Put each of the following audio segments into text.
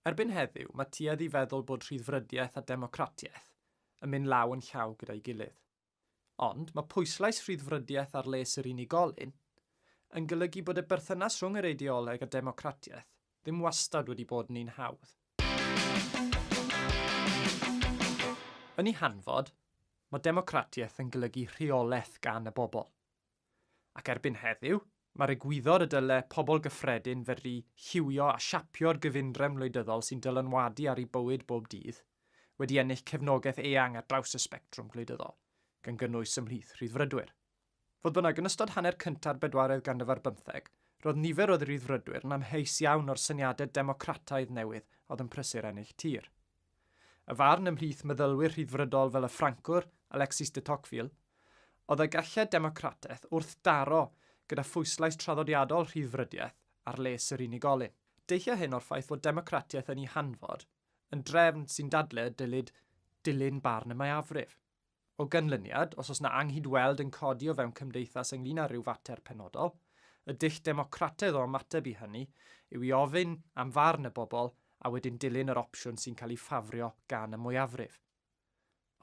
Erbyn heddiw, mae tuedd i feddwl bod rhyddfrydiaeth a democratiaeth yn mynd law yn llaw gyda'i gilydd. Ond, mae pwyslais rhyddfrydiaeth ar les yr unigolyn yn golygu bod y berthynas rhwng yr eideoleg a democratiaeth ddim wastad wedi bod yn un hawdd. Yn ei hanfod, mae democratiaeth yn golygu rheolaeth gan y bobl. Ac erbyn heddiw, mae'r egwyddor y dyle pobl gyffredin fedru lliwio a siapio'r gyfundrefn wleidyddol sy'n dylanwadu ar eu bywyd bob dydd, wedi ennill cefnogaeth eang ar draws y sbectrwm gwleidyddol, gan gynnwys ymhlith Rhyddfrydwyr. Fodd bynnag, yn ystod hanner cynta'r bedwaredd ganrif ar bymtheg, roedd nifer o Ryddfrydwyr yn amheus iawn o'r syniadau democrataidd newydd oedd yn prysur ennill tir. Y farn ymhlith meddylwyr Rhyddfrydol fel y Ffrancwr Alexis de Tocqueville oedd y galled democrataeth wrthdaro gyda phwyslais traddodiadol rhyddfrydiaeth ar les yr unigolyn. Deillai hyn o'r ffaith fod democratiaeth yn ei hanfod yn drefn sy'n dadlau y dylid dilyn barn y mwyafrif. O ganlyniad, os oes na anghyd-weld yn codi o fewn cymdeithas ynglŷn â rhyw fater penodol, y dull democrataidd o ymateb i hynny yw i ofyn am farn y bobl a wedyn dilyn yr opsiwn sy'n cael ei ffafrio gan y mwyafrif.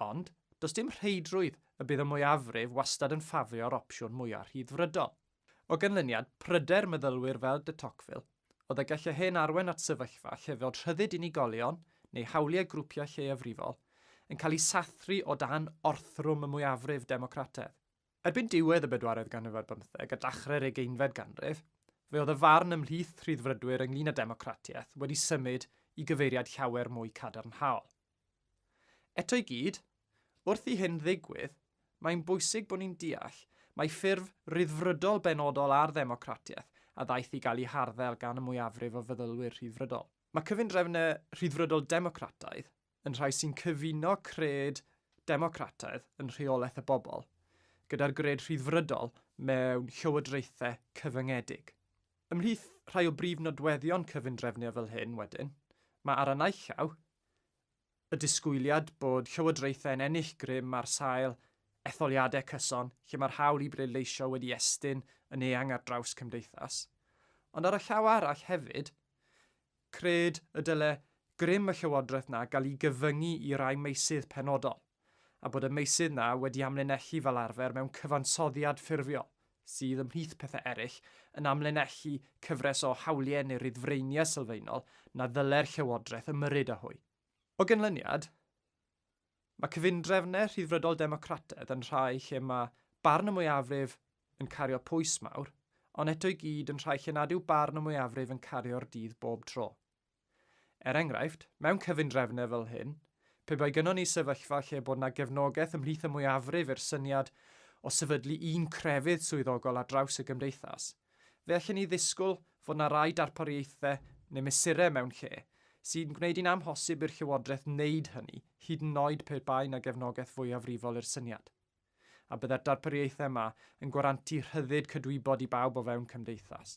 Ond, does dim rheidrwydd y bydd y mwyafrif wastad yn ffafrio'r opsiwn mwyaf rhyddfrydol. O ganlyniad pryder meddylwyr fel de Tocqueville oedd y gallai hyn arwain at sefyllfa lle fod rhyddid unigolion neu hawliau grwpiau lleiafrifol yn cael eu sathru o dan orthrwm y mwyafrif democrataidd. Erbyn diwedd y bedwaredd ganrif ar bymtheg a dachrau'r ugeinfed ganrif, fe oedd y farn ymhlith Rhyddfrydwyr ynglŷn â democratiaeth wedi symud i gyfeiriad llawer mwy cadarnhaol. Eto i gyd, wrth i hyn ddigwydd, mae'n bwysig bod ni'n deall mai ffurf ryddfrydol benodol ar ddemocratiaeth a ddaeth i gael ei harddel gan y mwyafrif o feddylwyr rhyddfrydol. Mae cyfundrefnau rhyddfrydol democrataidd yn rhai sy'n cyfuno cred democrataidd yn rheolaeth y bobl gyda'r gred rhyddfrydol mewn llywodraethau cyfyngedig. Ymhlith rhai o brif nodweddion cyfundrefnau fel hyn, wedyn, mae ar y naill llaw, y disgwyliad bod llywodraethau yn ennill grym ar sail etholiadau cyson lle mae'r hawl i bleidleisio wedi estyn yn eang ar draws cymdeithas. Ond ar y llaw arall hefyd, cred y dyle grym y llywodraeth 'na gael ei gyfyngu i rai meysydd penodol. a bod y meysydd 'na wedi amlinellu fel arfer mewn cyfansoddiad ffurfiol, sydd, ymhlith pethau eraill, yn amlinellu cyfres o hawliau neu ryddfreiniau sylfaenol na ddylai'r Llywodraeth ymyrryd â hwy. O ganlyniad, mae cyfundrefnau Rhyddfrydol Democrataidd yn rhai lle mae barn y mwyafrif yn cario pwys mawr, ond eto i gyd yn rhai lle nad yw barn y mwyafrif yn cario'r dydd bob tro. Er enghraifft, mewn cyfundrefnau fel hyn, pe bai gynnon ni sefyllfa lle bod yna gefnogaeth ymhlith y mwyafrif i'r syniad o sefydlu un crefydd swyddogol ar draws y gymdeithas, fe allen ni ddisgwyl fod yna rai darpariaethau neu mesurau mewn lle sy'n gwneud hi'n amhosib i'r Llywodraeth wneud hynny, hyd yn oed pe bai yna gefnogaeth fwyafrifol i'r syniad. A byddai'r darpariaethau yma yn gwarantu rhyddid cydwybod i bawb o fewn cymdeithas.